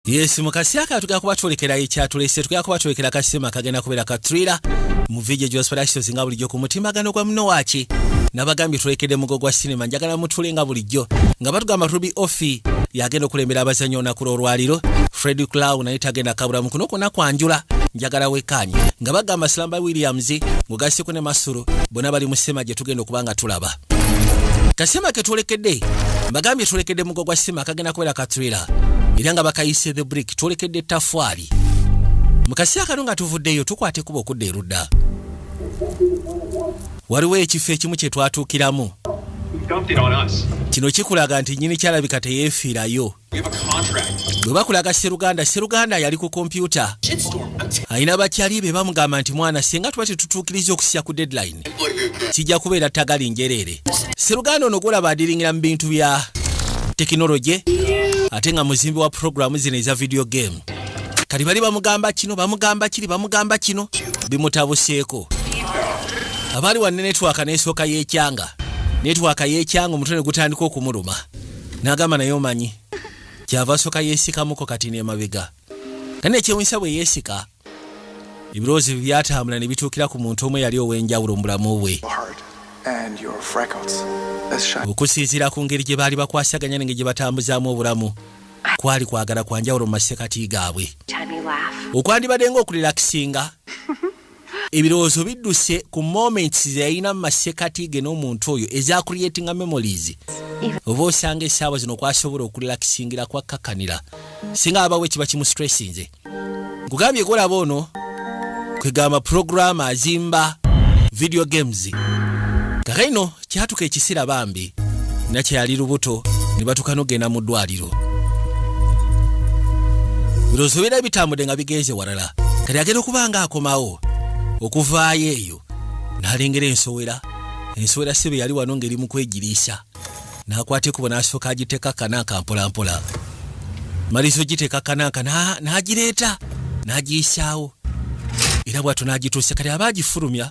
Yes, mukasi aka tugenda kuba twolekera ekyatulese tugenda kuba twolekera kasema kagenda kubeera ka thriller mu video gya Sparashito singa bulijjo ku mutimbagano gwa muno waaki nabagambye twolekede mugo gwa sinema njagala mutule nga bulijjo nga batugamba Ruby Offi yagenda okulembera abazannyi olunaku lw'olwaliro Fred Clown naye tagenda kabula mu kuno kwonna kwanjula njagala wekkaanye nga bagamba Silamba Williams ng'ogasseko ne Masuro bonna bali mu sema gye tugenda okuba nga tulaba kasima ketwolekedde mbagambye twolekedde mugo gwa sima kagenda kubeera katrela era nga bakayise the brick twolekedde etafaali mu kaseera kano nga tuvuddeyo tukwata ekuba okudda erudda waliwo ekifo ekimu kye twatuukiramu kino kikulaga nti nyini kyalabika teyeefiirayo bwe bakulaga seruganda seruganda yali ku kompyuta alina bakyali be bamugamba nti mwana singa tuba tetutuukiriza okusya ku deadline kijja kubeera tagali njereere seruganda ono gwolaba adiringira mu bintu bya tekinologye ate nga muzimbi wa puroguramu zino eza vidiyo game kati bali bamugamba kino bamugamba kiri bamugamba kino bimutabuseeko abaali wanne netwaka n'esooka y'ekyanga netwaka y'ekyanga omutwe ne gutandika okumuluma nagamba naye omanyi kyava soka yesikamuko kati nemabega naye nekyewunyisa bwe yesika ebirowoozo bye byatambula ne bituukira ku muntu omu eyali ow'enjawulo mu bulamu bwe okusinziira ku ngeri gye baali bakwasaganya nenge gye batambuzaamu obulamu kwali kwagala kwa njawulo mu masekati gaabwe okwandibadde ngaokulilakisinga ebirowoozo bidduse ku moments zeyalina mu masekati ge n'omuntu oyo eza creatinga memories oba osanga esaawa zino kwasobola okulelakisingira kwakkakanira singa abawo ekiba kimu stressinze nkugambye golaba ono kwegamba programu azimba video games kakaino kyatuka ekisira bambi nakyeyali lubuto ne batuka nogenda mu ddwaliro birowoozo bibeera bitambudde nga bigenze walala kati agenda okuba nga akomawo okuvaayo eyo n'alengera ensowera ensowera sibe yali wano ng'eri mu kwegiriisa n'akwata ekubo n'asooka agiteeka kanaaka mpolampola maliza ogiteeka kanaaka n'agireeta n'agiyisaawo era bwatyo n'agituuse kati aba agifulumya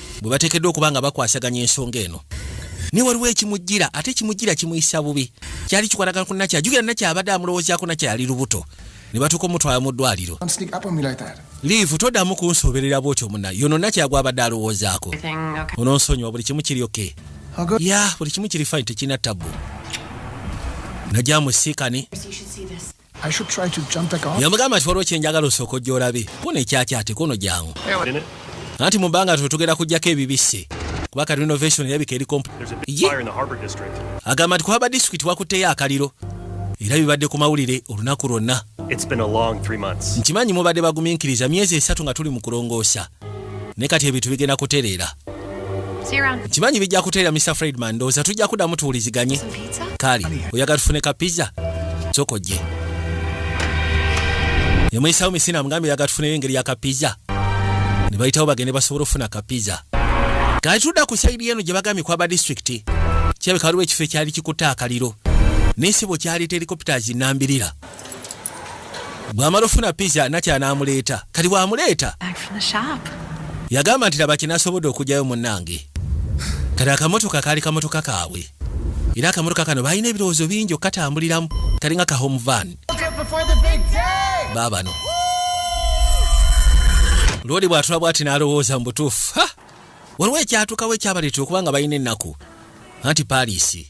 bwe bateekeddwa okuba nga bakwasaganya ensonga eno naye waliwo ekimujjira ate ekimujjira kimuyisa bubi kyali kikwatagana ku nakya jukira nakya abadde amulowoozaako nakya yali lubuto ne batuuka omutwala mu ddwaliro liivu toddamu kunsoberera bwotyo muna yono nakya gwabadde alowoozaako ononsonyiwa buli kimu kiryoke ya buli kimu kiri fine tekirina tabbu najja musiikani yamugamba nti waliwo kyenjagala osooka ojja olabe kuno ekyakyate kuno jangu anti mu bbanga twe tugenda kujjako ebibisse kuba ka renovation erabika eri agamba nti kuhaba disitulikiti wakutteyo akaliro era bibadde ku mawulire olunaku lwonna nkimanyi mubadde bagumiikiriza myezi esatu nga tuli mu kulongoosa naye kati ebintu bigenda kutereera nkimanyi bijja kutereera mr fredman ndowooza tujja kuddamu tuwuliziganye kaali oyagala tufune ka pizza kyokojje nemuyisawo misina mugambe oyagala tufuneyo engeri ya ka pizza ne bayitawo bagende basobola okufuna ka pizza kati tudda ku saidi eno gye bagambye kwaba disitulikiti kyabeka waliwo ekifo ekyali kikutte akaliro naye sibo kyali telikopita zinambirira bwamala ofuna pizza natya n'amuleeta kati bw'amuleeta yagamba nti laba kinasobodde okugyayo munnange kati akamotoka kaali kamotoka kaabwe era akamotoka kano balina ebirowoozo bingi okukatambuliramu kalinga ka home van baabano loodi bw'atula bw'ati n'alowooza mu butuufu waliwo ekyatuukawo ekyabaleetera okuba nga balina ennaku anti paliisi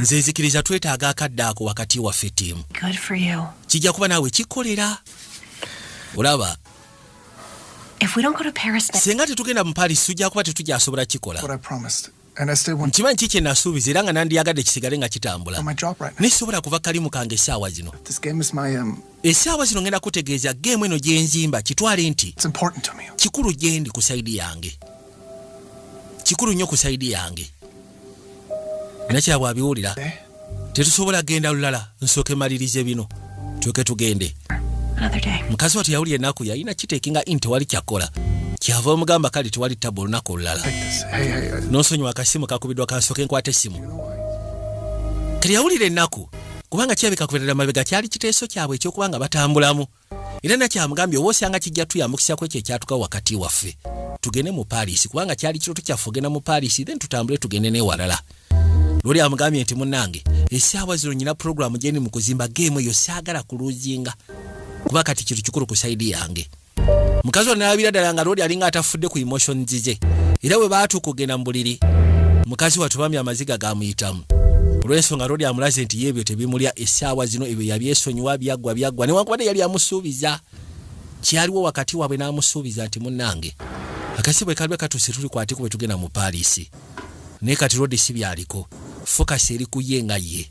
nze nzikiriza twetaaga akadde ako wakati waffe tiimu kijja kuba naawe kikolera olaba singa tetugenda mu paris tujja kuba tetujasobola kikola nkimanyi ki kye nasuubiza era nga nandiyagadde kisigale nga kitambula naye sisobola kuva kalimu kange essaawa zino Essaawa zino ngenda kutegeeza geemu eno gye nzimba kitwale nti kikulu gye ndi ku sayidi yange, kikulu nnyo ku sayidi yange. Nakira bw'abiwulira eh? tetusobola genda lulala, nsooke malirize bino tuke tugende. Mukazi watu yawulira ennaku yalina kiteekinga in tewali kyakola kyava omugamba kale tewali tabu olunaku olulala n'onsonyiwa akasimu kakubidwa kansooke nkwata essimu kati yawulira ennaku kubanga kirabika kuberera mabega kyali kiteeso kyabwe ekyokuba nga batambulamu era nakyamugambye oba osanga kijja tuyambukisa ku ekyo ekyatuka wakati waffe tugende mu paalisi kubanga kyali kiroto kyaffe ogenda mu paalisi then tutambule tugende newalala lwoli amugambye nti munange esaawa zino nyina pulogulaamu gyendi mu kuzimba geemu eyo saagala kuluzinga kuba kati kintu kikulu ku saidi yange mukazi ono nalabira ddala nga lodi alinga atafudde ku emotion zize era bwe baatuuka okugenda mu buliri mukazi watu bambi amaziga gamuyitamu olw'ensonga lodi amulaze nti yeebyo tebimulya essaawa zino ebyo yabyesonyiwa byaggwa byaggwa newankubadde yali amusuubiza kyaliwo wakati waabwe n'amusuubiza nti munnange akasi bwe kalibe katuuse tulikwateko bwe tugenda mu paalisi naye kati lodi si byaliko fokasi eri ku ye nga ye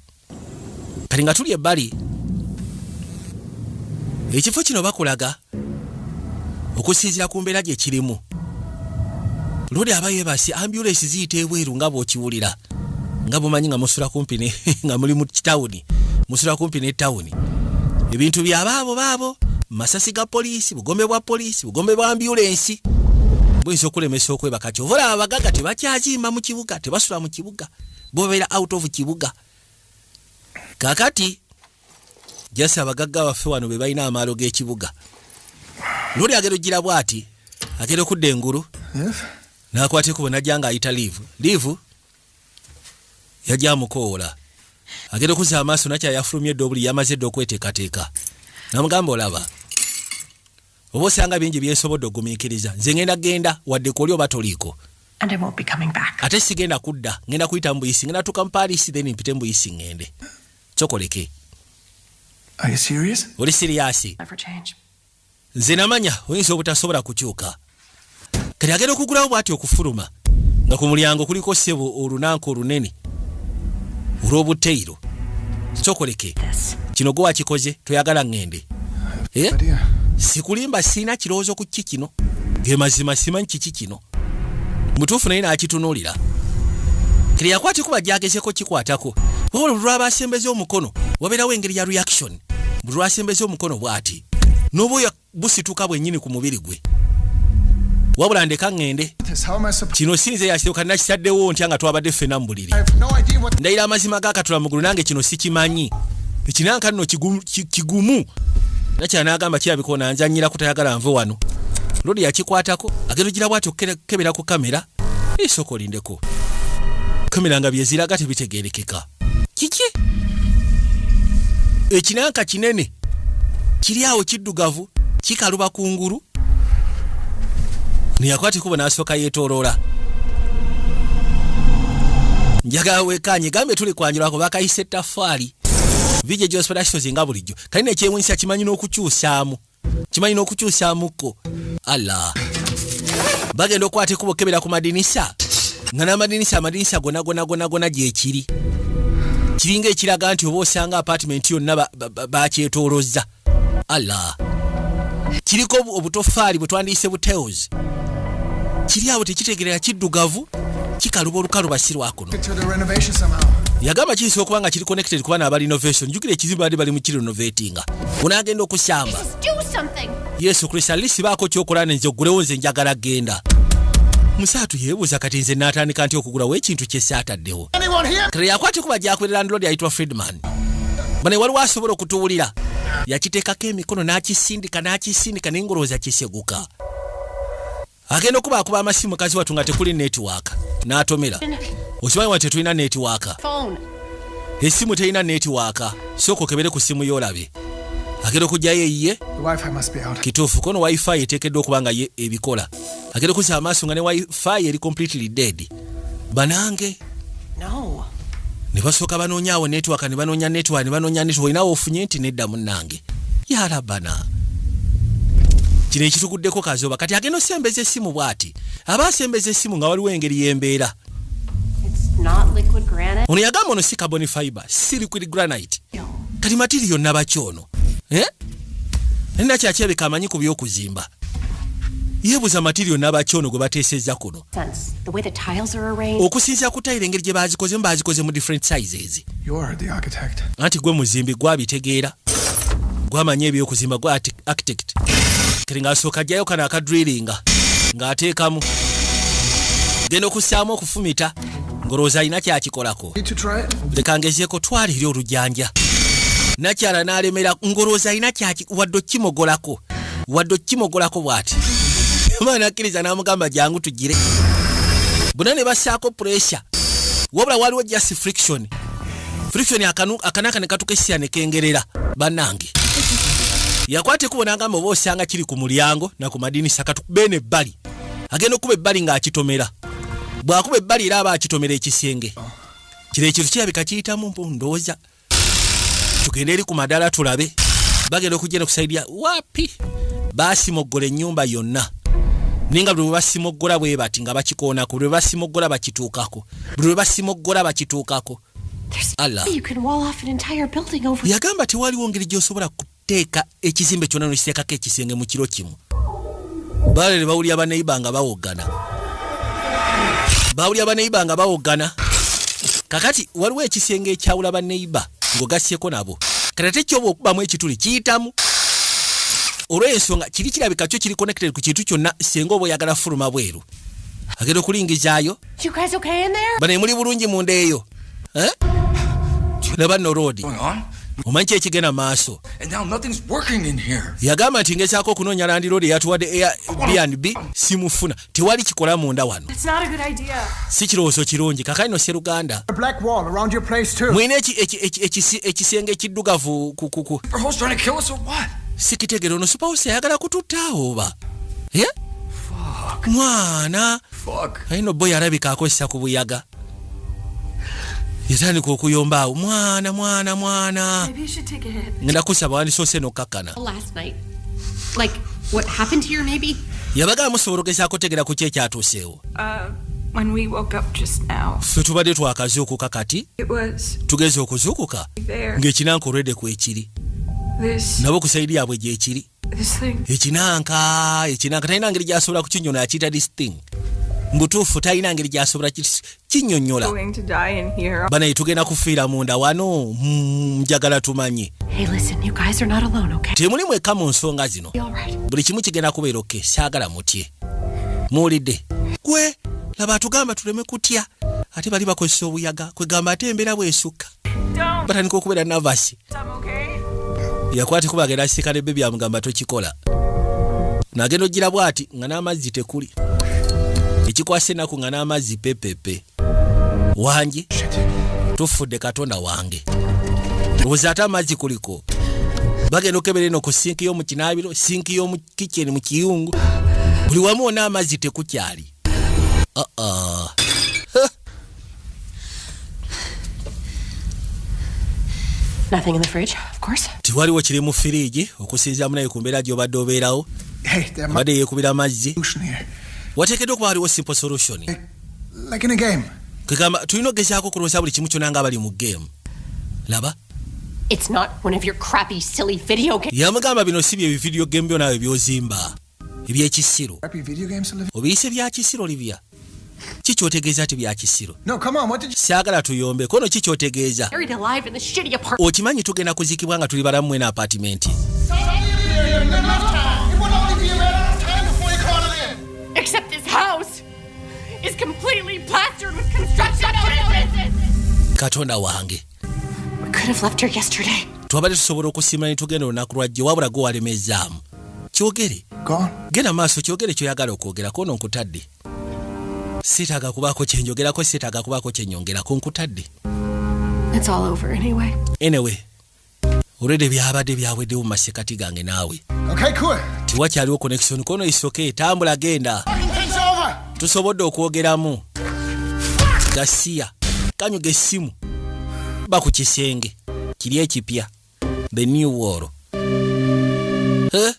kati nga tuli ebbali ekifo kino bakulaga okusinzira ku mbeera gye kirimu luli aba yebasi ambulensi ziyita ebweru nga bwokiwulira nga bumanyi nga musula kumpi nga muli mu kitawuni musula kumpi ne tawuni ebintu bya baabo baabo masasi ga poliisi bugombe bwa poliisi bugombe bwa ambulensi buyinza okulemesa okwebaka kyovulaba abagaga tebakyazimba mu kibuga tebasula mu kibuga bobera out of kibuga kakati jasi abagagga baffe wano be balina amaalo g'ekibuga luli agera ojjira bwati agera okudda engulu nakwata ekubo najja nga ayita liivu liivu yajja amukoola agera okuza amaaso nakyayafulumye edda obuli yamaze edda okweteekateeka namugamba olaba oba osanga bingi byensobodde ogumiikiriza nze ngenda genda wadde kuoli oba toliiko ate sigenda kudda ngenda kuyita mu buyisi ngenda tuka mupaaliisi then mpite mu buyisi ngende kyokoleke oli siriyasi nze namanya oyinza obutasobola kukyuka kati agenda okugulawo bwati okufuluma nga ku mulyango kuliko sebo olunanka olunene olw'obuteyiro kyokoleke kino gwe wakikoze toyagala ŋŋende eh? sikulimba sirina kirowoozo ku ki kino ge mazima simanyi kiki kino mutuufu naye n'akitunuulira kati yakwata ekuba gyagezeko kikwatako wabula buli lwaba asembeza omukono wabeerawo engeri ya reaction buli lwasembeza omukono bw'ati n'oba busituka bwennyini ku mubiri gwe wabula ndeka ŋŋende kino si nze yakiteeka nakitaddewo ntya nga twabadde ffena mu buliri ndayira amazima gakatula mugulu nange kino sikimanyi ekinanka nno kigumu nakyala n'agamba kirabiko nanzanyira kutayagala nve wano lodi yakikwatako agenda ogira bwati okukebera ku kamera esooka olindeko kamera nga byeziraga tebitegeerekeka kiki ekinanka kinene kiri awo kiddugavu kikaluba ku ngulu neyakwata ekubo n'asooka yeetooloola njagala wekaanye gambye tuli kwanjulako bakayise ettafaali vije gyosipera kisozi nga bulijjo kali nekyewunyisa kimanyi n'okukyusaamu kimanyi n'okukyusamukko allah bagenda okukwata ekubo kebera ku madinisa nga n'amadinisa amadinisa gona gona gona gona gyekiri kiringa ekiraga nti oba osanga apatimenti yonna bakyetolozza allah kiriko obutofaali bwe twandiyise buteos kiri awo tekitegerera kiddugavu kikaluba olukalu basirwako kuno yagamba kiyinza okuba nga kiri connected kuba naaba renovation njukira ekizibu baadde bali mukiri renovatinga unaagenda okusamba yesu kristo alisi baako kyokola nenze ogulewo nze njagala genda musaatu yeebuuza kati nze naatandika nti okugulawo ekintu kyesaataddewo kati yakwata okuba gyakulira landlord ayitwa friedman bane waliwo asobola okutuwulira yakiteekako emikono n'akisindika n'akisindika naye ngolowooza kiseguka agenda okuba akuba amasimu mukazi watu nga tekuli network n'atomera okimanyi wa tetulina network esimu terina network sooka okebere ku simu yolabe agenda okugyayo eyiye kituufu kono wifi eteekeddwa okuba nga ye ebikola agenda okuzza amaaso nga ne wifi eri completely dead banange no. ne basooka banoonya awo netwaka ne banoonya netwa ne banoonya netwa olinawo ofunye nti nedda munnange yarabana kino ekituguddeko kazoba kati agenda osembeza essimu bwati aba asembeza essimu nga waliwo engeri y'embeera ono yagamba ono si carbon fiber si liquid granite kati matiri yonna baki ono eh? nina kyakyebeka amanyi ku by'okuzimba yebuza matiri yonna baki ono gwe bateeseza kuno okusinzira ku tayiro engeri gye bazikozemu bazikoze mu different sizes anti gwe muzimbi gwabitegeera gwamanyi ebyokuzimba gwa architect kati ngaasooka ajjayo kano akadrilinga ng'ateekamu genda okussaamu okufumita ngolowooza alina kyakikolako leka ngezeeko twala eri olujanja nakyala n'alemera ngolowooza alina kyaki wadde okukimogolako wadde okukimogolako bw'ati omwana akkiriza n'amugamba jangu tugire bona ne bassaako puresya wabula waliwo just friction friction akanaka ne katuka essira ne kengerera bannange yakwata ekubo n'agamba oba osanga kiri ku mulyango na ku madinisa katukubee ne bbali agenda okukuba ebbali ng'akitomera bw'akuba ebbali era aba akitomera ekisenge kino ekintu kirabika kiyitamu mpu ndowooza tugende eri ku madala tulabe bagenda okugenda okusaidia wapi basimoggola ennyumba yonna ninga buli lwebasimoggola bwe bati nga bakikoonako buli lwebasimoggola bakituukako buli lwebasimoggola bakituukako yagamba tewaliwo ngeri gyosobola teeka ekizimbe kyona nokiteekako ekisenge mu kiro kimu balere bawulira baneiba nga bawoggana bawulira baneiba nga bawoggana kakati waliwo ekisenge ekyawula baneiba ngaogasyeko nabo kati ate kyoba okubamu ekituli kiyitamu olwensonga kiri kirabika kyo kiri connected ku kintu kyonna senga oba oyagala fuluma bweru agenda okulingizaayo bane muli bulungi munda eyo eh? laba no road omanyi kyekigenda maaso yagamba nti ngezaako okunoonya landiroodi eyatuwadde airbnb simufuna tewali kikola munda wano si kirowoozo kirungi kakali no seruganda mulina ekisenge ekiddugavu kukuku sikitegere ono supawusi ayagala kututtaawo oba mwana ayina obo yarabika akozesa ku buyaga yatandika okuyomba awo mwana mwana mwana ngenda kusaba wandisoose nokukakkana yabagala musobola okugeza kutegera ku kyo ekyatuuseewo uh, fe tubadde twakazuukuka kati tugeze okuzuukuka ng'ekinanka olwedde kwekiri nabo ku saidi yaabwe gyekiri ekinanka ekinanka talina ngeri gyasobola kukinyona akiyita this thing mbutuufu talina ngeri gyasobola kinyonyola banaye tugenda kufiira munda wano hmm, njagala tumanye temuli mweka mu nsonga zino buli kimu kigenda kubeera oke saagala mutye muwulidde gwe laba atugamba tuleme kutya ate bali bakozesa obuyaga kwegamba ate embeera bwesukka batandika okubeera navasi yakwati kuba agenda kisika ne bebi amugamba tokikola nagenda ojjira bwati nga n'amazzi tekuli ekikwasa enaku nga n'amazzi pepepe wangi tufudde katonda wange obuzi ate amazzi kuliko bagenda okebera eno ku sinki y'omu kinaabiro sinki y'omu kicheni mu kiyungu buli wamu wona amazzi tekukyali Uh-uh. Nothing in the fridge, of course. Tiwaliwo kiri mu firiigi okusinziira munaye ku mbeera gy'obadde obeerawo abadde yeekubira amazzi wateekeddwa okuba waliwo simple solution kegamba tulina okugezaako okulonsa buli kimu kyona nga abali mu geemu laba yamugamba bino si bye bividiyo geemu byo naawe byozimba ebyekisiro obiyise byakisiro libya kikyotegeeza ti byakisiro saagala tuyombe kono kikyotegeeza okimanyi tugenda kuzikibwa nga tuli balamu mwena apatimenti katonda wange twabadde tusobola okusiima ne tugenda olunaku lwajjo wabula gwe walemezzaamu kyogere genda maaso kyogere kyoyagala okwogera kono nkutadde sitaaga kubaako kyenjogerako sitaaga kubaako kyenyongerako nkutadde anyway olwedde byabadde byaweddewo mu masekati gange naawe tewakyaliwo connection kono isoke tambula genda tusobodde okwogeramu gasiya kanyuga essimu ba ku kisenge kiri ekipya the new wall eh?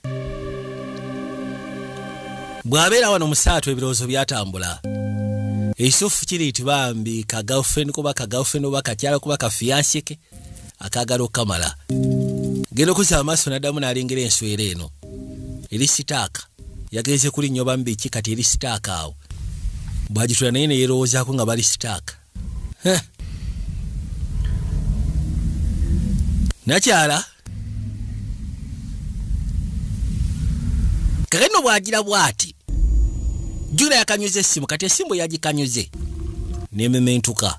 bw'abeera wano musaatu ebirowoozo byatambula ekisufu kiri nti bambi ka girlfriend kuba ka girlfriend oba kakyala kuba ka fiyansike akaagala okukamala genda okuza amaaso naddamu n'alengera enswera eno eri sitaaka yagenze kuli nnyo bamu biki kati eri sitaaka awo bwagitula naye neyerowoozaako nga bali sitaaka nakyala kale no bwagira bwati jula yakanyuza essimu kati esimu yagikanyuze nemementuka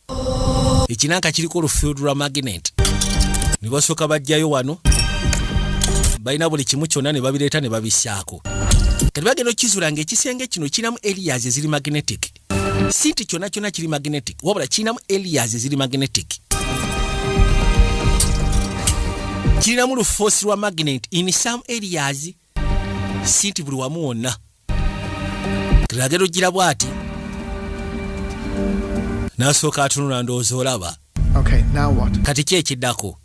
ekinanka kiriko olufield lwa magnet ne basooka bajjayo wano balina buli kimu kyonna ne babireeta ne babissaako kati bagenda okukizula nga ekisenge kino kiramu elias eziri magnetic si nti kyonna kyonna kiri magnetic wabula kirinamu elias eziri magnetic kirinamu lufoosi lwa magnet in some elias si nti buli wamu wonna tulagera ojjira bwati nasooka atunula ndowooza olaba kati ki ekiddako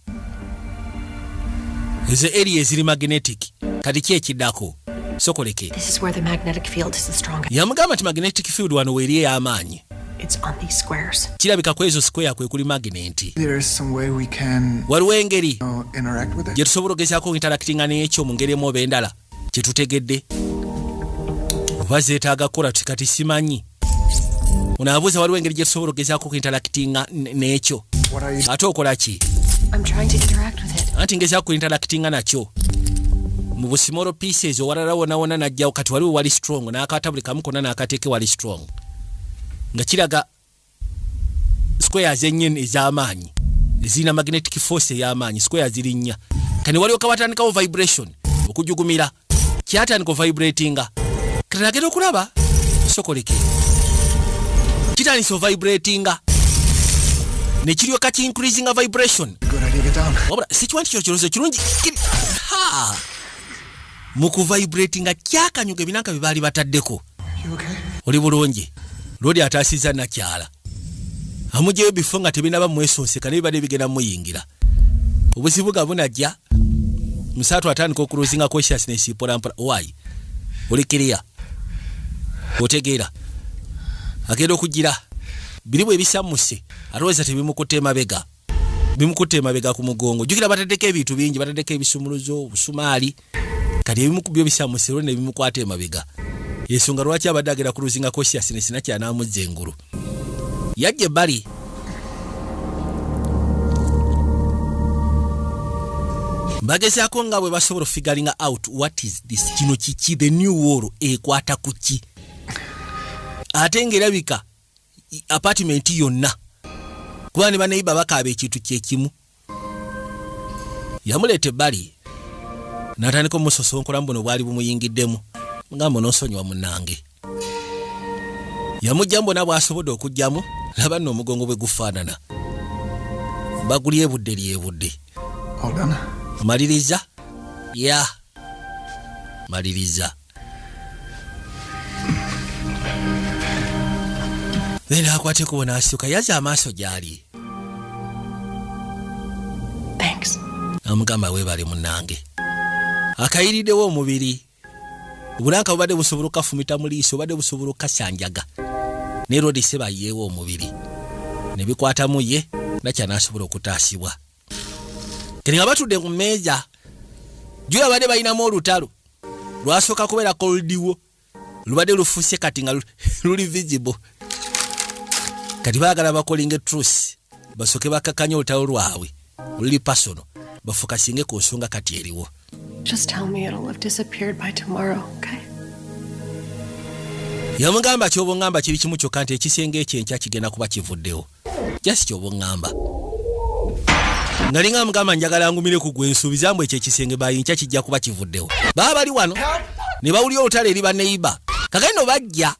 ezo eriya eziri magnetic kati ki ekiddako sokoleke yamugamba nti magnetic field wano weeri ey'amaanyi It's on these squares. Kirabika kwezo square kwe kuli magnet. There is some way we can Waliwo engeri interact with it. Gye tusobola ogezaako interactinga n'ekyo mu ngeri emu oba endala kye tutegedde oba zeetaaga kukola kati simanyi onaabuuza waliwo engeri gye tusobola ogezaako okuinterakitinga n'ekyo ate okola ki anti ngezaako kuinterakitinga nakyo mu busimolo pieces owalala wonawona najjawo kati waliwo wali strong n'akaata buli kamu konna n'akateeke wali strong nga kiraga square zenyini ez'amaanyi ezirina magnetic force ey'amaanyi square ziri nnya kani waliwo kawatandikawo vibration okujugumira kyatandika ovibratinga katagenda okulaba sokoleke kitandisa ovibratinga nekiryoka ki increasinga vibration wabula sikiwa nti kyo kirozo kirungi mu kuvibratinga kyakanyuga ebinanka bye baali bataddeko oli bulungi lwoli ataasiza nakyala amugyeyo bifo nga tebinaba mwesonseka nebibadde bigenda muyingira obuzibu ga bunajja musaatu atandika okuluzinga consciousness mpolampola wayi oli kiriya otegeera agenda okugira biri bwe bisammuse alowooza tebimukutte emabega bimukutte emabega ku mugongo jukira bataddeko ebintu bingi bataddeko ebisumuluzo obusumaali kati ebimu ku byo bisamusirwe ne bimukwata emabega ensonga lwaki abadde agenda ku luzinga kosiasi ne sina kyanamuzza engulu yajja ebbali bagezaako nga bwe basobola ofigalinga out what is this kino kiki the new wall ekwata ku ki ate ngaerabika apartment yonna kuba ne banaiba bakaaba ekintu kyekimu yamuleeta ebbali n'atandika omusosonkolamu buno bwali bumuyingiddemu nga mbu n'onsonyiwa munange yamugyamu bona bw'asobodde okugyamu laba nno omugongo bwe gufaanana bagulyebudde lyebudde maliriza ya maliriza naye n'akwata ekubo n'asituka yaza amaaso gy'ali amugamba weebale munange akayiriddewo omubiri obulanka bubadde busobola okukafumita mu liiso obadde busobola okukasanjaga ne rodi sebayeewo omubiri ne bikwatamu ye nakya n'asobola okutaasibwa kati nga batudde ku mmeeza jula babadde balinamu olutalo lwasooka kubeera koldiwo lubadde lufuse kati nga luli visible kati baagala bakolinga etrus basooke bakakanya olutalo lwabwe oluli pasono bafukasinge ku nsonga kati eriwo yamugamba kyobongamba kiri kimu kyokka nti ekisenge ekyo enkya kigenda kuba kivuddewo just kyoba oŋŋamba nali nga mugamba njagala ngumire ku gwe nsuubiza mbu ekyo ekisenge bayinkya kijja kuba kivuddewo baba bali wano ne bawulira olutalo eri baneiba kagendo bajja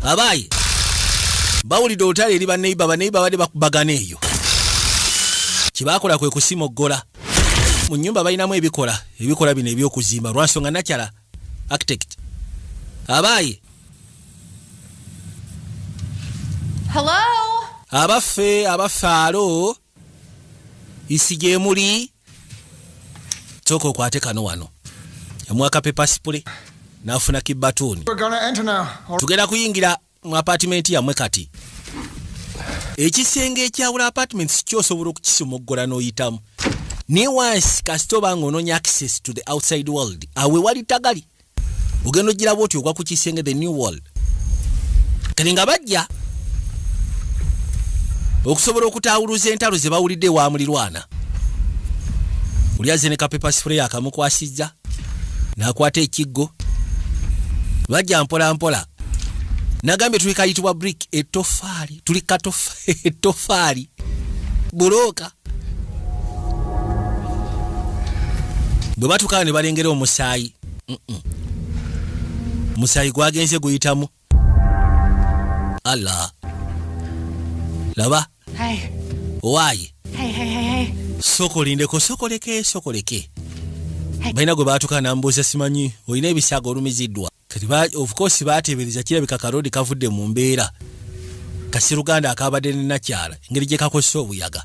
abaayi bawulidde olutalo eri baneiba baneiba badde bakubagana eyo kyebakola kwe kusimoggola mu nnyumba balinamu ebikola ebikola bino ebyokuzimba lwansonga nakyala Architect. Abaaye. Hello. Abaffe abafaalo isi gye muli sooka okwate kano wano omwaka pepasipule n'afuna kibbatuuni tugenda kuyingira mu apartment yamwe kati ekisenge ekyawula apartment sikyo osobola okukisomoggola n'oyitamu naye wansi kasita oba nga onoonya access to the outside world awe wali tagali ogenda ogiraba oti ogwa ku kisenge the new world kati nga bajja okusobola okutaawuluza entalo ze bawulidde ewa mulirwana oli azze ne kapepasifure yakamukwasizza nakwata ekiggo lwajja mpola mpola nagambye tuli kayitibwa brick etofaali tuli etofaali bulooka bwe batukawo ne balengera omusaayi musaayi gwagenze guyitamu Allah. Laba. Hey. Why? Hey, hey, hey, hey. Sokolindeko, sokoleke, sokoleke. Hey. Baina gwe batuka na mbuza simanyi. Oyina ebisago olumizidwa. Kati ba, of course batebereza kila bika karodi kavude mumbera. Kasiru ganda akabade ni nachara. Ngeri jeka kwa sobu yaga.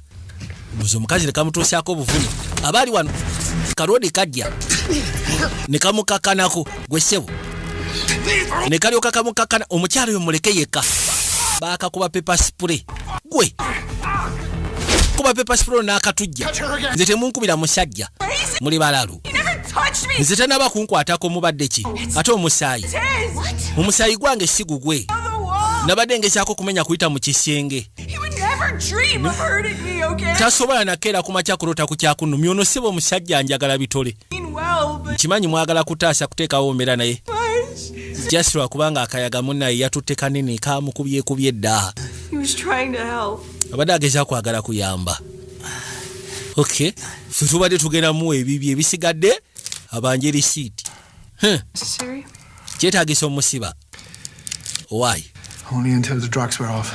buzi omukazi nekamutuusaako obuvune abaali wano kalodi kajja nekamukakanako gwe ssebo nekalyoka kamukakana omukyalo yo muleke yekka bakakuba pepa sipure gwe kuba pepa sipure nakatujja nze temunkubira musajja muli balalu nze tenaba kunkwatako mubadde ki ate omusaayi omusaayi gwange sigugwe nabadde ngezaako okumenya kuyita mu kisenge tasobola nakeera ku makya kulota ku kyakunumya ono siba omusajja njagala bitole nkimanyi mwagala kutaasa kuteekawo omera naye just lwakubanga akayaga munaye yatutte kanene kamukubyekubye dda abadde ageza kwagala kuyamba ok fe tubadde tugendamu ebibyo ebisigadde abanje risiiti kyetagisa omusiba why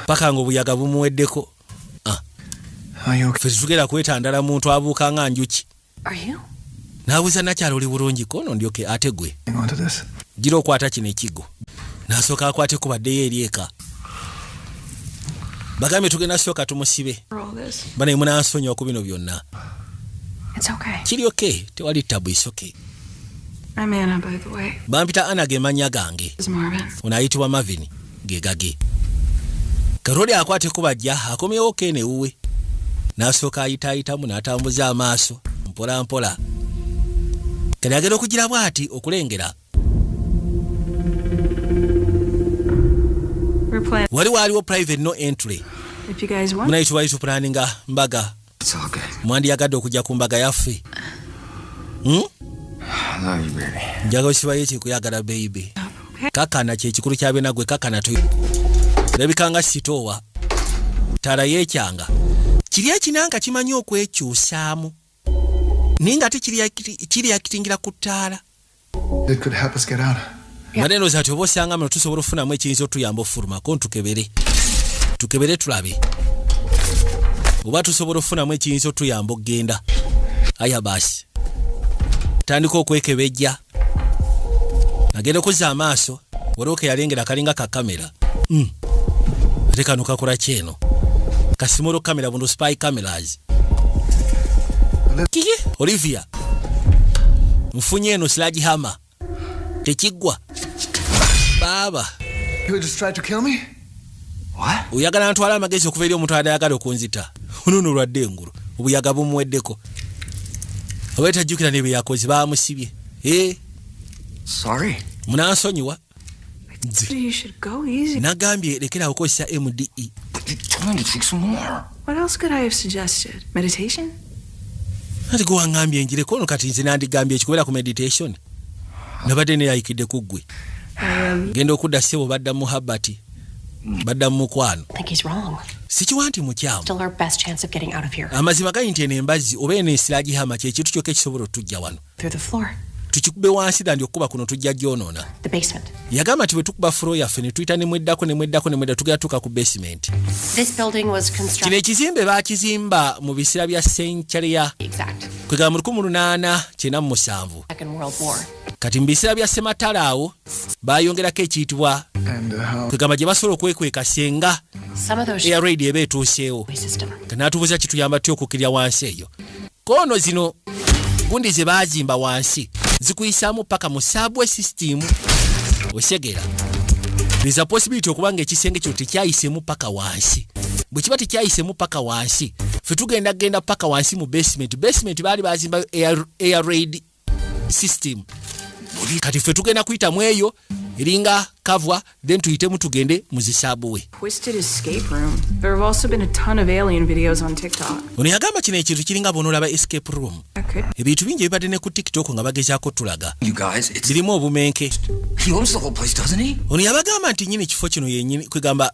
paka nga obuyaga bumuweddeko ah. fe tetugenda kwetandala muntu abuuka nga njuki nabuuza nakyalo oli bulungi kono ndyoke ate gwe gira okwata kino ekigo nasooka akwate kubaddeyo eri eka bagambye tugenda sooka tumusibe banaye munansonyiwa ku bino byonna kiri oke tewali tabu isoke bampita ana ge mannya gange ono ayitibwa mavini ge gage katonda akwata ekuba jja akomyewo kena ewuwe n'asooka ayitaayitamu n'atambuza amaaso mpola mpola kati agenda okugira bwati okulengera wali waaliwo private no entry munayitubali tuplaninga mbaga mwandiyagadde okujja ku mbaga yaffe hmm? njaga okibayo ekyekuyagala beibe kakana kyekikulu kyabena gwe kakana tu lebikanga sitoowa tala yekyanga kiri ekinanga kimanyi okwekyusaamu naye nga tekiriyakitingira ku ttaala It could help us get out. Maneno yeah. zati obosanga mno tusobola ofunamu ekiyinza otuyamba ofuluma ko ntukebere tukebere tulabe oba tusobola ofunamu ekiyinza otuyamba okugenda aya basi tandika okwekebejja nagenda okuza amaaso waliwo keyalengera kalinga ka kamera mm. ate kano kakula kyeno kasimolo kamera bundu spy cameras kiki olivia nfunye eno silagi hama tekiggwa baaba oyagala ntwala amagezi okuva eri omuntu adayagala okunzita onono olwadde engulu obuyaga bumuweddeko oba etajjukira nebye yakoze bamusibye eh? munansonyiwa nze nagambye lekerawo okozesa mde What else could I have suggested? Meditation? Nali gwe wangambye njire kono kati nze nandigambye ekikubeera ku meditation nabadde neyayikidde ku ggwe um, genda okudda sebo badda mu habati badda mu mukwano sikiwa nti mukyamu amazima gali nti eno embazzi oba eno esiragihama kyekintu kyokka ekisobola otujja wano through the floor. tukikube wansi dandi okukuba kuno tujja gyonoona yagamba nti bwe tukuba furo yaffe ne tuyita nemweddako nemweddako nemwedda tugera tuuka ku basement kino ekizimbe baakizimba mu biseera bya senkyale ya kwegamba mu lukumi lunaana kyena mu musanvu kati mu biseera bya sematala awo bayongerako ekiyitibwa uh, kwegamba gye basobola okwekweka senga eya raidi eba etuuseewo nga natubuza kituyamba ty okukkirira wansi eyo kono zino gundi zebazimba wansi zikuyisamu paka mu subway system osegera there's a possibility okuba nga ekisenge kyo tekyayisemu paka wansi bwe kiba tekyayisemu paka wansi fe tugenda genda paka wansi mu basement basement baali bazimbayo air, air raid system kati ffe tugenda kuyita mu eyo eringa kavwa then tuyitemu tugende mu zisabuwe ono yagamba kino ekintu kiringa bonaolaba escape room ebintu bingi ebibadde ne ku tiktok nga bagezaako tulaga birimu obumenke ono yabagamba nti nyini ekifo kino yenyini kwegamba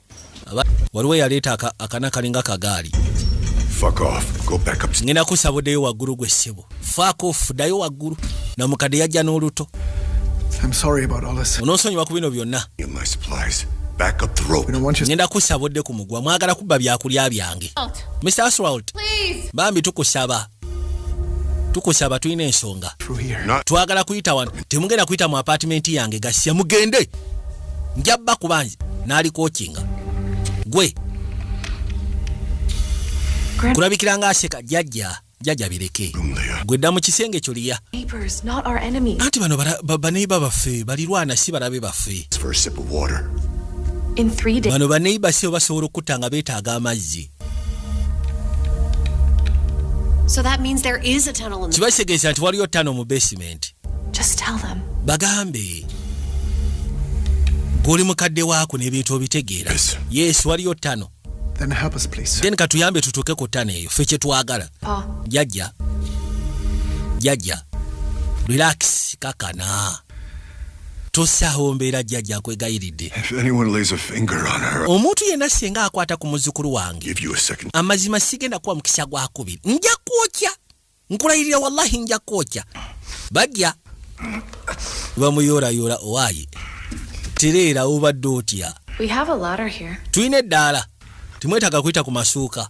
waliwo eyaleeta akana kalinga kagaali ngenda kusabudeyo waggulu gwe ssebo fakof dayo waggulu namukadde yajja n'oluto onosonyiwa ku bino byonna ngenda kusabudde ku mugwa mwagala kubba byakulya byange mr aswalt bambi tukusaba tukusaba tulina ensonga twagala kuyita wano temugenda kuyita mu apatimenti yange gasya mugende njabba kubanzi nalikokinga gwe kulabikira nga aseka jajja jajja bireke gwe dda mu kisenge ekyo liya anti bano baneiba baffe balirwana si balabe baffe bano baneiba si obasobola okutta nga betaaga amazzi So that means there is a tunnel in the Kiba kitegeeza nti waliyo ttano mu basement. Just tell them. Bagambe. Guli mukadde waako n'ebintu obitegeera. Yes. Yes, waliyo ttano. Then help us please. Then katuyambe tutuuke ku ttano eyo ffe kye twagala. Pa. Jajja. Jajja. Relax kakana. tosaawo mbeera jjajja nkwegayiridde omuntu yenna singa akwata ku muzzukulu wange amazima sigenda kuwa mukisa gwa kubiri nja kwokya nkulayirira wallahi nja kwokya bajja bamuyoolayoola owaaye tereera obadde otya tulina eddaala timwetaaga kuyita ku masuuka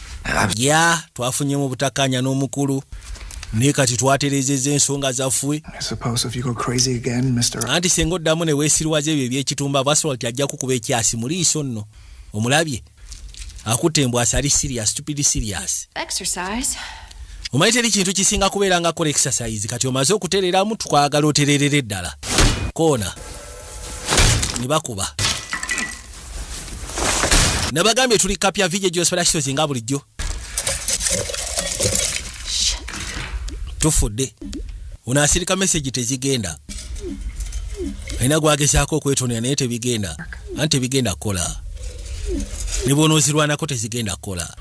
ya twafunyemu obutakanya n'omukulu naye kati twaterezeza ensonga zaffe anti senga oddamu ne weesirwaza ebyo ebyekitumba basalt ajja kukuba ekyasi mu liiso nno omulabye akutte embw asali sirias stupid sirias omanyi teri kintu kisinga kubeera nga kola exercise kati omaze okutereramu twagala otererere ddala koona ne bakuba nabagambye tuli kapya vije gyosperakitozi nga bulijjo tufudde ono asirika mesegi tezigenda alina gwagezaako okwetonera naye tebigenda anti tebigenda kukola ne bwonoozirwanako tezigenda kukola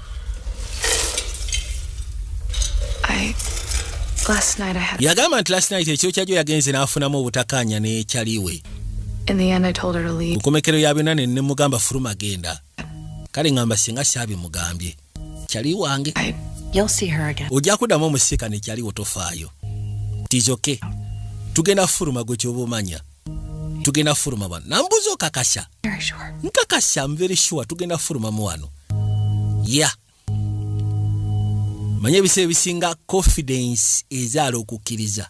yagamba nti last night ekyokyajo yagenze n'afunamu obutakaanya n'ekyaliwe mukomekero ya byonna ne nemugamba fuluma genda kale ngamba singa syabimugambye kyali wange ojja kuddamu omusika nekyaliwo tofaayo tizoke tugenda fuluma gwe kyoba omanya tugenda kufuluma bano nambuuza okakasa nkakasa mveri sure tugenda kufulumamu wano ya yeah. manya ebiseera ebisinga confidence ezaala okukkiriza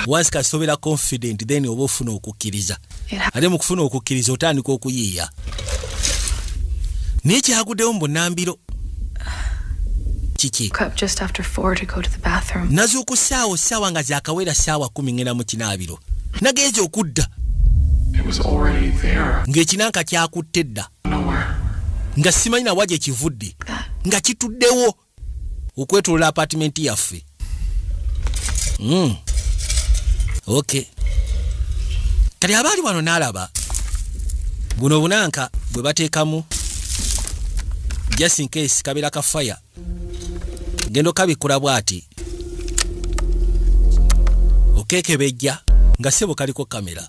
once kasobera confident then oba ofuna okukkiriza ate mu kufuna okukkiriza otandika okuyiiya naye kyaguddewo mu bunambiro kiki nazuuku ssaawa ssaawa nga zakawera ssaawa kumi ngenda mu kinaabiro nagenza okudda ng'ekinanka kyakutte dda nga simanyi nawa gye kivudde nga kituddewo okwetolola apatimenti yaffe Mm. Okay. Kati abaali wano n'alaba buno obunanka bwe bateekamu just in case kabeera ka fire genda okabikkula bw'ati okekebejja nga sebo kaliko kamera